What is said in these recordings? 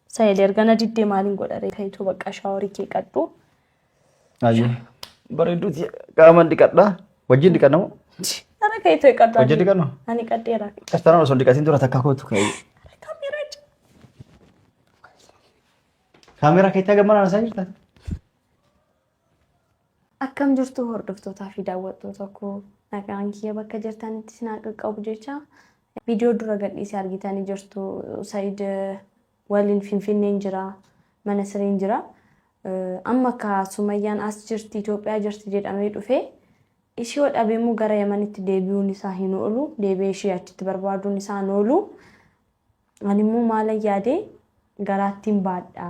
Sayil erga na diddee maaliin godha ree kayituu bakka shaaworii kee qadhu. Ayyuu. Bareedduu tiya. Qaamaan dhiqadhaa. Wajjin dhiqanna moo? Ara kayituu qadhu. Hojii dhiqannu? Ani qadheera. Kastaraan osoo hin dhiqatiin dura takkaa kootu kaayee. Kaameeraa jira. Kaameeraa keetti haga manaan isaa jirta. Akkam jirtu hordoftootaa fi daawwattoota koo nagaan kiyya bakka jirtanitti isin haa qaqqabu jecha viidiyoo dura gadhiisee argitanii jirtu Said waliin Finfinneen jira mana sireen jira amma akka Sumayyaan as jirti Itoophiyaa jirti jedhamee dhufee ishii yoo dhabe immoo gara Yamanitti deebi'uun isaa hin oolu deebi'ee ishii achitti barbaaduun isaa hin oolu Ani immoo maalan yaade garaattin baadha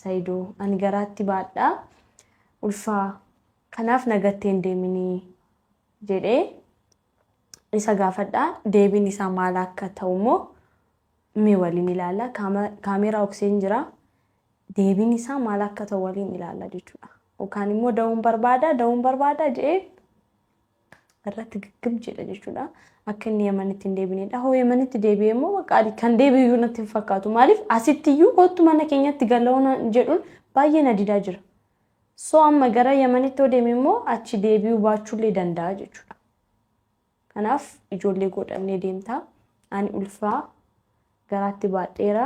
Sayido ani garaatti baadha ulfa kanaaf na gattee hin deemini jedhee isa gaafadha deebiin isaa maal akka ta'u immoo mee waliin ilaalla kaameeraa okseen jira deebiin isaa maal akka ta'u waliin ilaalla jechuudha. Yookaan immoo da'uun barbaada da'uun barbaada jedhee irratti giggim jedha jechuudha. Akka inni Yamanitti hin deebinedha. Hoo Yamanitti deebi'e immoo bakka ani kan deebi'u natti hin fakkaatu. Maaliif asitti iyyuu kottu mana keenyatti galaona jedhuun baay'ee na didaa jira. So amma gara Yamanitti yoo deeme immoo achi deebi'uu baachuullee danda'a jechuudha. Kanaaf ijoollee godhannee deemtaa. Ani ulfaa garaatti baadheera.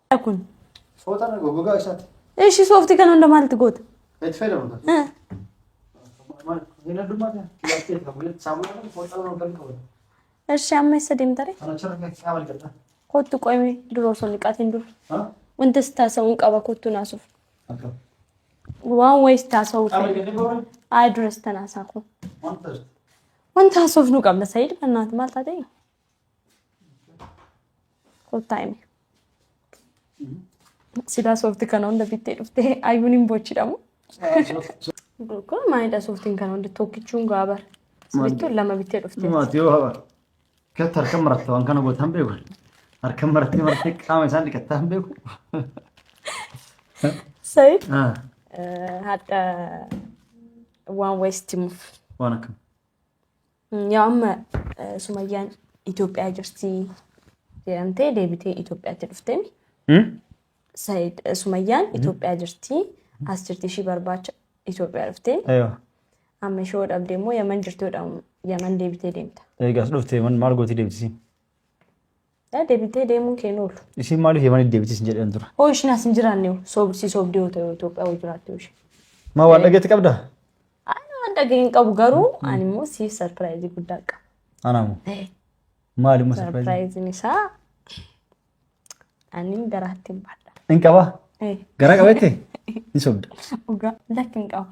kun. Fooxaan gogaa isaati. Eshi sooftii kana hunda maalti goota? Itti fayyadamu. Eh. Hin addummaa ta'e. Laftee qabu. Saamunaa kan fooxaan waan kan qabu. Eshi amma eessa deemtare? Kana chirra kan qaama jedha. Kottu qoyme dura osoo niqaatiin dura. Ha? Wanta si taasa'uun qaba kottu naasuuf. Akka. Waan wayii si taasa'uu Qaama fedha. jedhee boora. Ayi dura si tanaasaa kun. Wanta. Wanta haasofnu qabna Sa'iid bannaati maal taatee? Kottaa himi. Sidaa soofti kana hunda bittee dhuftee ayyuun hin bochidhamu. Kun maalidha sooftiin kana hunda tokkichuun gaabar. Sibittuun lama bittee dhuftee. Maati yoo haba. Keetti harka maratte waan kana gootan beeku. Harka marattee marattee qaama isaan dhiqattaa hin beeku. Sayid Ah, hadha waan wayisti muuf. Waan akkam. Yaa amma eh, Sumayyaan Itoophiyaa jirti jedhamtee deebitee Itoophiyaatti dhufteen Hmm? Said eh, Sumayyaan Itoophiyaa jirti as jirti ishii barbaacha Itoophiyaa dhufteen Eewa. amma ishoo dhabdee immoo Yaman jirti yoo dhahamu Yaman deebitee deemta. Eegas dhuftee man maal gootee deemtisiin? Yaa deebitee deemuun kee hin oolu. Isiin maaliif Yamanitti deebitee isin jedhan tura? Hoo ishiin as hin jiraanne hoo? Soob- si soobdee yoo ta'e Itoophiyaa hoo jiraatte hoo ishee. Maa waan dhageetti qabda? Ani waan dhaga'e hin qabu garuu ani immoo siif sarpiraayizii guddaa qaba. Anaamu. Eh, Maali immoo sarpiraayizi? Sarpiraayiziin isaa ani garaatti hin baadha. Hin qabaa? Eh, Garaa qabeetti? Hin sobda. Dhugaa lakki hin qabu.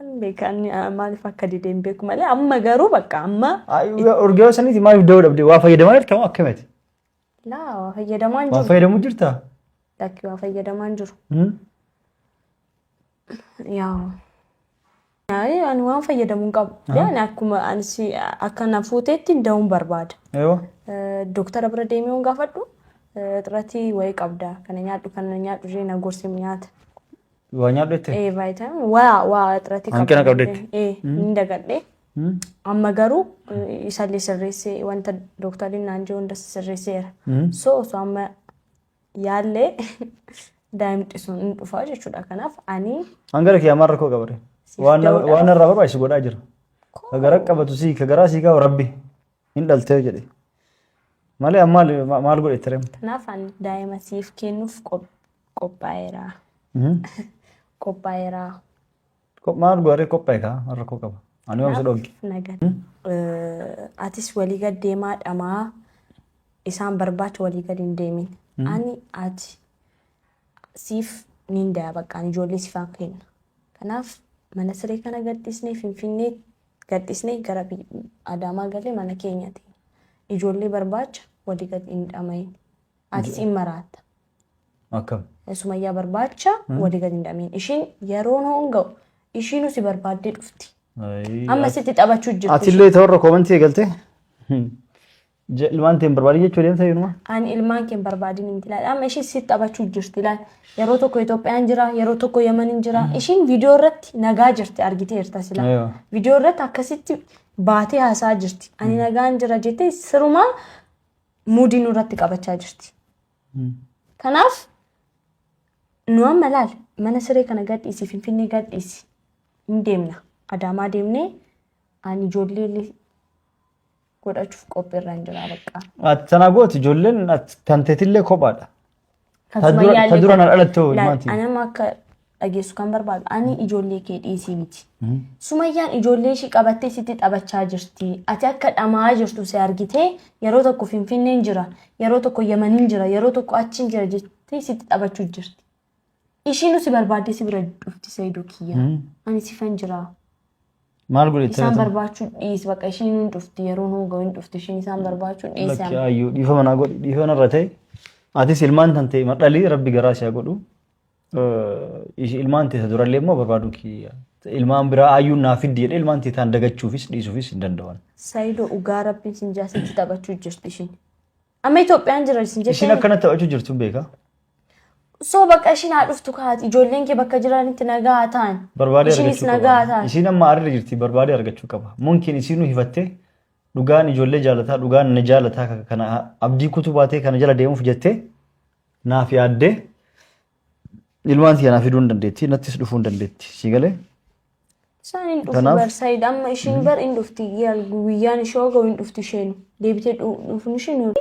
Hin beeku ani ah, maaliif akka dide hin beeku malee amma garuu bakka amma Urgeewwan saniiti maaliif da'uu dhabde? Waa fayyadamaa jirta moo akkamiti? laa waa fayyadamaa hin Waa jiru. fayyadamu jirta? Lakki waa fayyadamaa hin jiru. Hmm? Yaa'u. Yaa'u ani waan fayyadamu hin qabu. Yaa'u akkuma ani si akka na fuuteetti da'uun barbaada. Eewa. Eh, Dooktara bira deemee waan gaafadhu eh, xiratii wayii qabda kana nyaadhu kana nyaadhu ishee na gorsi nyaata. Waa nyaadhu jettee? Ee vaayitaamin waa waa irratti Hanqina qabdetti? Ee ni dagadhe. Hmm? Amma garuu eh, isallee sirreessee wanta doktariin naan jiru hundas sirreesseera. Hmm? So osoo amma yaallee daa'imti sun hin dhufaa jechuudha. Kanaaf ani Hangara kiyyaa maal rakkoo qabare? Siif Waan da'uudhaaf. waan irraa barbaachisu godhaa jira. Ka gara qabatu sii ka garaa sii kaa'u rabbi. Hin dhaltee jedhe. Malee amma maal ma- maal godhe tirem? Kanaaf ani daa'ima siif kennuuf qop- qophaa'eera. Qophaa'eera. Maal godhe qophaa'e kaa maal rakkoo qaba? Ani waan isa dhogge. Kanaaf na gad- Eh, Atis walii gad deemaa dhamaa isaan barbaacha walii gad hin deemin. Ani ati siif niin daya baqqaan ijoollee siifaan kenna. Kanaaf mana siree kana gadhiisnee finfinnee Gadhisnee gara Adaamaa galle mana keenyati ijoollee barbaacha wali gad hin dhamayin. Atis in maraatta. Akkam? Sumayyaa barbaacha wali gad hin dhamayin. Ishiin yeroon hoon ga'u ishiinu si barbaaddee dhufti. Amma sitti taphachuu jirti. Atillee ta'urra koomantii eegaltee? Je- Ilmaan teen barbaadii jechuu deemsa yoonumaa. An ilmaan kee hin barbaadin miti laal. Amma isheen si taphachuu jirti laal. Yeroo tokko Itoophiyaan jira, yeroo tokko Yamaniin jira. Ishiin viidiyoo irratti nagaa jirti argiteerta sila. Aywa. Viidiyoo irratti akkasitti baatee haasaa jirti. Ani nagaan jira jettee sirumaa muudii nurratti qabachaa jirti. Kanaaf nu amma laal mana siree kana gadhiisi finfinnee gadhiisi hin deemna. Adaamaa deemnee ani ijoollee godhachuuf qophiirran jira baqqaa. Ati tana gooti ijoolleen ati kan teetillee kophaadha. Kan Ta dura- Sumayyaallee ta dura na godhe. dhalatte hoo Laal, maati? Ani amma akka dhageessu kan barbaadu ani ijoollee kee dhiisii miti. Sumayyaan ijoollee ishii qabattee sitti taphachaa jirti. Ati akka dhama'aa jirtu si argitee yeroo tokko Finfinneen jira, yeroo tokko Yamaniin jira, yeroo tokko achiin jira jettee sitti taphachuu jirti. Ishii nu si barbaadde si bira dhufti Saidoo kiyya. Ani sifan jira. Maal godhe Isaan itti barbaachuu dhiis bakka ishii nu hin dhufti yeroo nu ga'u hin dhufti ishiin isaan barbaachuu dhiis. Lakki ayyuu dhiifama naa godhi dhiifama irra ta'e atis ilmaan tan ta'e madhalii rabbi garaa si haa godhu Eh, ishi- ilmaan tee isa durallee immoo barbaaduu kiyya ilmaan biraa ayyuun naa fiddi jedhee ilmaan tee taan dagachuufis dhiisuufis hin danda'an. Saidoo dhugaa rabbiin sin jaasitti taphachuu jirti ishiin. Amma Itoophiyaan jira isin Ishiin jettee akkana taphachuu jirtu hin beekaa. soo bakka ishiin haa dhuftu kaati ijoolleen kee bakka jiranitti nagaa haa ta'an. Barbaadee Ishiinis argachuu nagaa haa qaba. ta'an. Isiin amma aarri jirti barbaadee argachuu qaba. Munkiin isiin nu hifattee dhugaan ijoollee jaalataa dhugaan na jaalataa ka- kana abdii kutuu baatee kana jala deemuuf jettee naaf yaaddee ilmaan siyaa naaf fiduu hin dandeetti nattis dhufuu hin dandeetti sii galee Isaan hin dhufu Kanaaf- bar Said amma ishiin bar hin dhufti yaal guyyaan ishee hoo ga'u hin dhufti isheen deebitee dhu- dhufuun ishee nu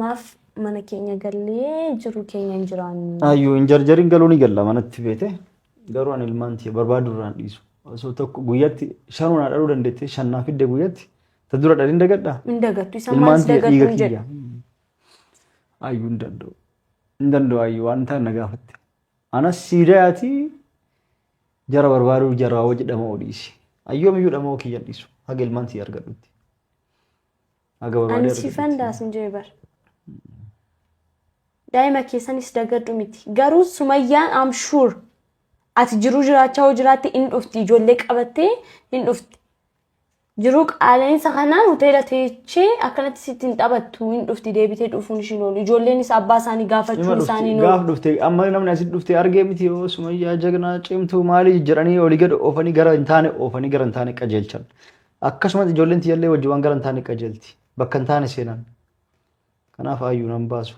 maaf mana keenya gallee jiru keenya hin jiraannu. Ayyuu hin jarjariin galuu ni galla manatti beete garuu ani ilmaan tiyya barbaadu irraan dhiisu osoo tokko guyyatti shanuu naa dhaluu dandeettee shan naa fidde guyyatti ta dura dhaliin dagadha Hin dagattu isaan ilmaan maalis tiyya dagattu dhiiga hin jedhu. kiyya ayyuu hin danda'u hin danda'u ayyuu waan ta'an na gaafatte Anas siidayati jara barbaaduu jaraa wajji dhama'uu dhiisi. Ayyoomiyyuu dhama'uu kiyyan dhiisu. Haga ilmaan sii argadhutti. Haga barbaadee Ani argadhutti. siifan daasin jee bar. Daa'ima keessanis dagadhu miti. Garuu Sumayyaan I'm sure ati jiruu jiraachaa hoo jiraatte hin dhufti ijoollee qabattee hin dhufti. Jiruu qaala'insa kanaan hoteela teechee akkanatti sitti hin taphattu hin dhufti deebitee dhufuun ishiin oolu. Ijoolleenis abbaa isaanii Ima gaafachuun dhufti isaanii hin gaaf oolu. dhufte amma namni asitti dhufte argee miti yoo sumayyaa jagnaa cimtuu maalii jedhanii olii gad oofanii gara hin taane oofanii gara hin taane qajeelchan. Akkasumas ijoolleen tiyyallee wajjin waan gara hin taane qajeelti. Bakka hin taane seenan. Kanaaf aayyuu nan baasu.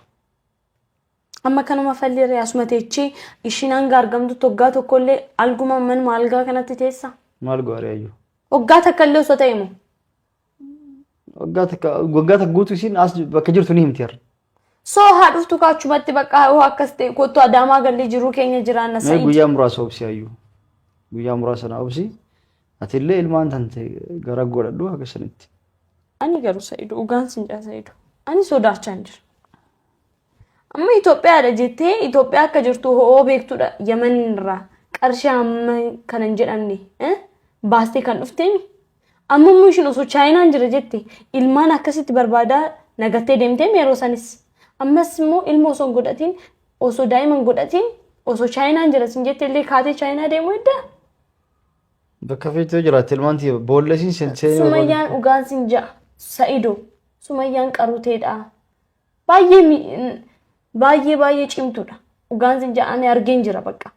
amma kanuma falli irree asuma teechee ishiin hanga argamtu toggaa tokkollee alguma manuma algaa kanatti teessa. Maal goore ayyu? Waggaa takka illee osoo ta'e moo? Waggaa takka waggaa takka guutuu isiin as bakka jirtu ni himti har'a. Soo haa dhuftu kaachumatti bakka hoo akkas ta'e kottu adaamaa gallee jiruu keenya jiraanna Mee sa'iid. guyyaa muraasa obsi ayyu. Guyyaa muraasa na obsi. Atillee ilmaan tante gara godhadhu haga sanitti. Ani garuu Sa'idu dhugaan sin jaa Sa'idu. Ani sodaachaan jira. Amma Itoophiyaadha jettee Itoophiyaa akka jirtu ho'oo beektudha Yaman irraa qarshii amma kana hin jedhamne eh, baastee kan dhufteemi. Amma immoo ishiin osoo chaayinaan jira jette ilmaan akkasitti barbaadaa nagattee deemteemi yeroo sanis. Ammas immoo ilma osoo hin godhatiin osoo daa'ima hin godhatiin osoo chaayinaan jira sin jette illee kaatee chaayinaa deemuu eddaa. Bakka feetuu jiraatte ilmaan tiyya boollesiin seen seenee barbaadu. Sumayyaan dhugaan sin ja'a. Sa'ido. Sumayyaan qaruteedha. Baay'ee mi- n- baay'ee baay'ee cimtuudha. Dhugaan sin ja'a ani argeen jira bakka.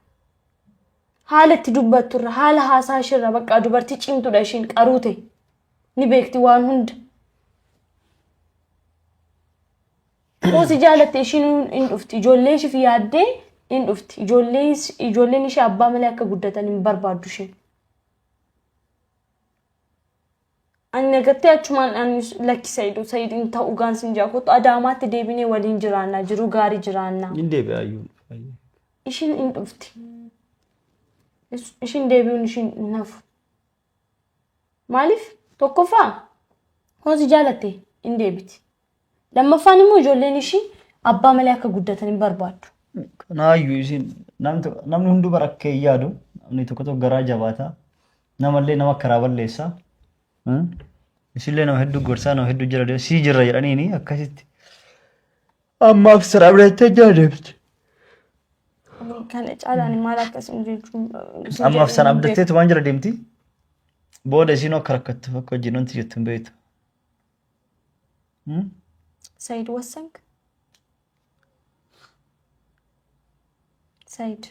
Haala itti dubbattu irra haala haasaa ishee irra bakka dubartii cimtuudha ishiin qaruute. Ni beekti waan hunda. Xiqqoo si jaalatte ishiin hin dhufti. Ijoollee ishiif yaaddee hin dhufti. Ijoollee is- Ijoolleen ishee abbaa malee akka guddatan hin barbaaddu isheen. Ani nagattee achumaan ani lakki Sa'idu Sa'id hin ta'u gaan sin jaa kottu adaamaatti deebinee waliin jiraannaa jiru gaarii jiraannaa. Hin deebi'a ayyuu. Ishiin hin dhufti. Is- Ishiin deebi'uun ishiin hin hafu. Maaliif tokkoffaa kun si jaalatte hin deebiti. Lammaffaan immoo ijoolleen ishii abbaa malee akka guddatan hin barbaaddu. Kanaayyuu isin namni tokko- namni hunduu bara akka hin yaadu namni tokko tokko garaa jabaata namallee nama karaa balleessa Hmm? isillee nama hedduu gorsaa nama hedduu jira sii jirra jedhaniini akkasitti Ammaaf sirraa biratti jaa deebite. Kana caalaan maal akkasiin jechuun. Ammaaf sana abdatteetu waan jira deemti. Booda isiin akka rakkattu akka wajjin wanti jettu hin beektu. Hmm? Said wassank. Said.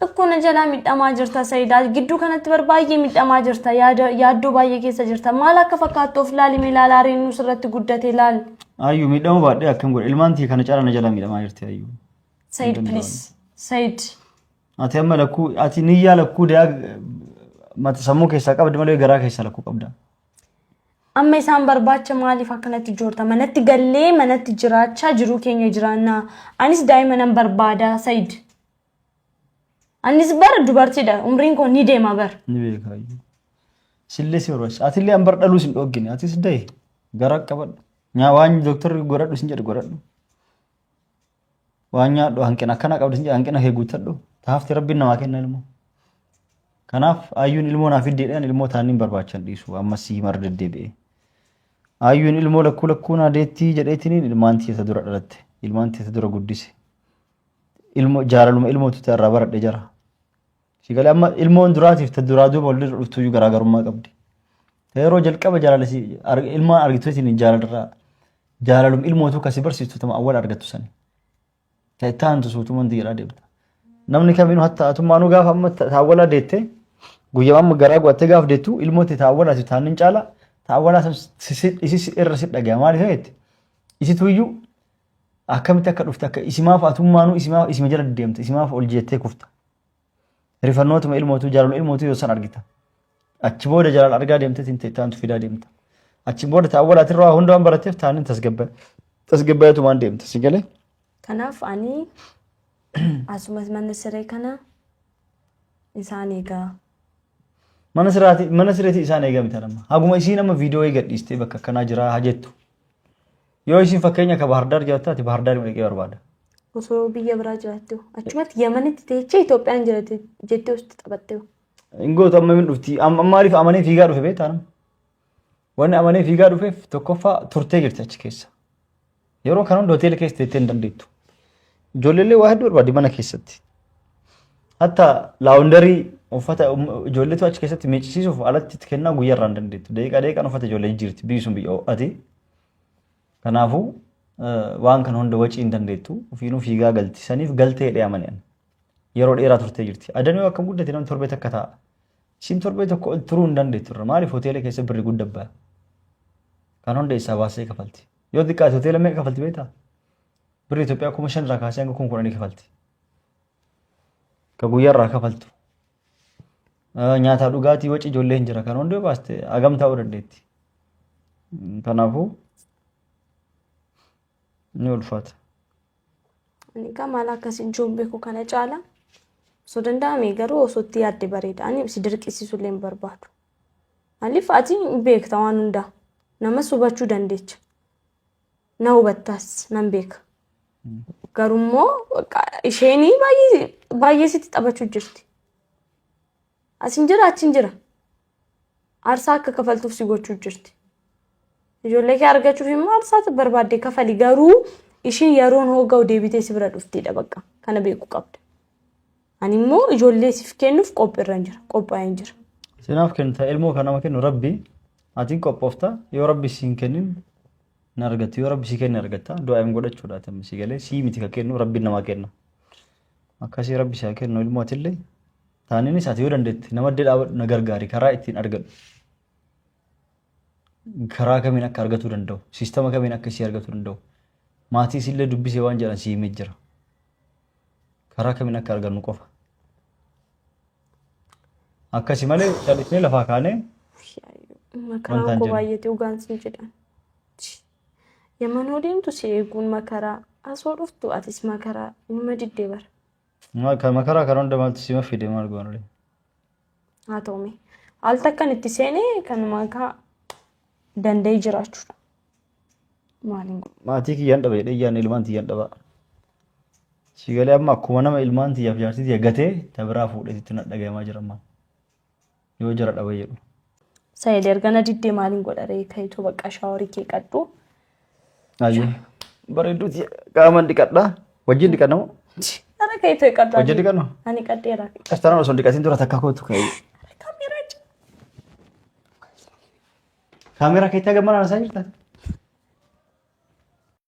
Tokko na jalaa midhamaa jirta Sayidaa. Gidduu kanatti bar baay'ee midhamaa jirta. Yaada yaaddoo baay'ee keessa jirta. Maal akka fakkaattu of laali mee laala ariin nus irratti guddate laal. Ayyu miidhama baadhee akkam godhe ilmaan tiyya kana caalaa na jalaa miidhamaa jirti ayyu. Sayid Danda'amu. please. Sayid. Ati amma lakkuu ati niyyaa lakkuu dayaa mata sammuu keessaa qabdi malee garaa keessaa lakkuu qabda. Amma isaan barbaacha maaliif akkanatti joorta? Manatti gallee manatti jiraachaa jiruu keenya jiraannaa. Anis daa'ima nan barbaada Sayid. Anis bar dubartiidha umriin koo ni deema bar. Ni beekaa iyyuu. Sillee si barbaachisa. Atillee an bar dhaluu sin dhoggine. Atis dahe gara qabadhu. Nyaa waan dooktarri godhadhu sin jedhe godhadhu. Waan nyaadhu hanqina akkana qabdu sin jedhe hanqina kee guuttadhu. Taafti rabbiin namaa kenna ilmoo. Kanaaf ayyuun ilmoo naaf iddeedhaan ilmoo taaniin barbaachan dhiisu ammas si himar deddeebi'ee. Ayyuun ilmoo lakkuu lakkuu naa deettii jedheetiniin ilmaan tiyya ta dura dhalatte. Ilmaan tiyya ta dura guddise. ilmo jaalaluma ilmootu ta'e irraa baradhe jara. Si galee amma ilmoon duraatiif ta duraa duuba walirra dhuftu iyyuu garaagarummaa qabdi. Ta yeroo jalqaba jaalala si arg- ilmaan argitu isin jaalalirraa jaalalum ilmootu kasi barsiistu tama awwal argattu sani. Ta itti aantu suutuma hundi jedhaa deemta. Namni kamiinuu hatta atummaanuu gaafa amma ta ta awwalaa deette guyyaa amma garaa guwattee gaafa deettu ilmootti ta awwalaati taannin caala ta awwalaa san si- si- isi si- irra si dhagaya maaliif jetti isitu iyyuu Akkamitti akka dhufte akka isimaaf atummaanuu isimaaf isima jala deemta isimaaf ol jeettee kufta. Rifannootuma ilmootuu jaalala ilmootuu yoo san argita. Achi booda jaalala argaa deemtee tinte taantu fidaa deemta. Achi booda ta'a walaatirraa hunda waan barateef taanin tasgabba tasgabbaatumaan deemta si galee. Kanaaf ani asumas mana siree kana isaan eegaa. Mana siraati mana sireeti isaan eegamita nama. Haguma isiin amma viidiyoo eegadhiistee bakka akkanaa jiraa haa jettu. Yoo isin fakkeenya ka Bahardaar jiraatte ati Bahardaar dhaqee barbaada. Osoo biyya biraa jiraattu achumatti Yamanitti teechee Itoophiyaan jiraate jettee osti taphattee. Ingoota amma min dhufti. Am- Maaliif amanee fiigaa dhufe beektaa nama? Wanni amanee fiigaa dhufeef tokkoffaa turtee jirti achi keessa. Yeroo kana hunda hoteela keessa teettee hin dandeettu. Ijoolleellee waa hedduu barbaaddi mana keessatti. Hatta laawundarii uffata um- ijoolleetu achi keessatti miiccisiisuuf alatti itti kennaa guyyaa irraa hin dandeettu. Daqiiqaa daqiiqaan uffata ijoollee jijjiirti biyyi sun biyya ho'ate. Kanaafuu waan kana hunda wacii hin dandeettu ofiinuu fiigaa galti saniif galtee jedhee amane ani. Yeroo dheeraa turtee jirti. Adan yoo akkam guddate namni torbee takka taa'a. Isin torbee tokko ol turuu hin dandeettu irra maaliif hoteela keessa birri gudda ba'a. Kan hunda isaa baasee kafalti. Yoo xiqqaate hoteela meeqa kafalti beektaa? Birri Itoophiyaa kuma shan irraa kaasee hanga kuma kudhanii kafalti. Ka guyyaarraa kafaltu. Nyaataa dhugaatii waci ijoollee hin jira kan hundee baaste hagam ta'uu dandeetti. Kanaafuu ni ulfaata. Ani egaa maal akkas ijoon beeku kana caala osoo danda'ame garuu osoo itti yaadde bareeda. Ani si dirqisiisuu illee hin barbaadu. Maaliif ati beekta waan hundaa. Namas hubachuu dandeecha. na hubattaas nan beeka. Garummoo bakka isheen baay'ee baay'ee sitti taphachuu jirti. Asin jira achin jira. Aarsaa akka kafaltuuf si gochuu jirti. Ijoollee kee argachuuf immoo aarsaa barbaadde kafali garuu isheen yeroon hooga'u deebitee si bira dhuftidha bakka kana beekuu qabda. Ani immoo ijoollee siif kennuuf qophiirran jira. Qophaa'een jira. Sinaaf kennita ilmoo kan nama kennu rabbi atiin qophoofta yoo rabbi siin kennin hin argattu yoo rabbi sii kenne argatta du'aa hin godhachuudha atammi sii galee sii miti kan kennu rabbi namaa kenna akkasii rabbi saa kennu ilmoo atillee taaniinis ati yoo dandeetti nama addee dhaabadhu na gargaari karaa ittiin argadhu karaa kamiin akka argatuu danda'u siistama kamiin akka isii argatuu danda'u maatii isiillee dubbisee waan jedhan sii himee jira. karaa kamiin akka argannu qofa. Akkasi malee callisnee lafaa kaanee Makaraan Wantaan koo jedhu. baay'eetti dhugaan siin jedhan. Yamanoo deemtu si eeguun makaraa. Asoo dhuftu atis makaraa. Inuma diddee bara. ma- ka- makaraa kana hunda maaltu sima fide maal goone. Haa ta'u mee. Al takkan itti seenee kanuma akka danda'ee jiraachuudha. Maaliin godhu? Maatii kiyyaan dhaba jedhee iyyaan ilmaan tiyyaan dhaba. Si galee amma akkuma nama ilmaan tiyyaaf jaartii tiyya gatee ta biraa fuudheetitti na dhagayamaa jira amma. Yoo jara dhaba jedhu. Sayid erga na diddee maaliin godha ree kayituu bakka shaaworii kee qadhu. Ayyee. Bareedduu tiyya qaamaan dhiqadhaa. Wajjin dhiqannamoo? Ara kayituu qadhu. Wajjin dhiqannu? Ani qadheera. Kastaraan osoo hin dhiqatiin dura takka kootu ka'e. Kameeraa jira. Kaameeraa keetti hagammaan haasa'aa jirta?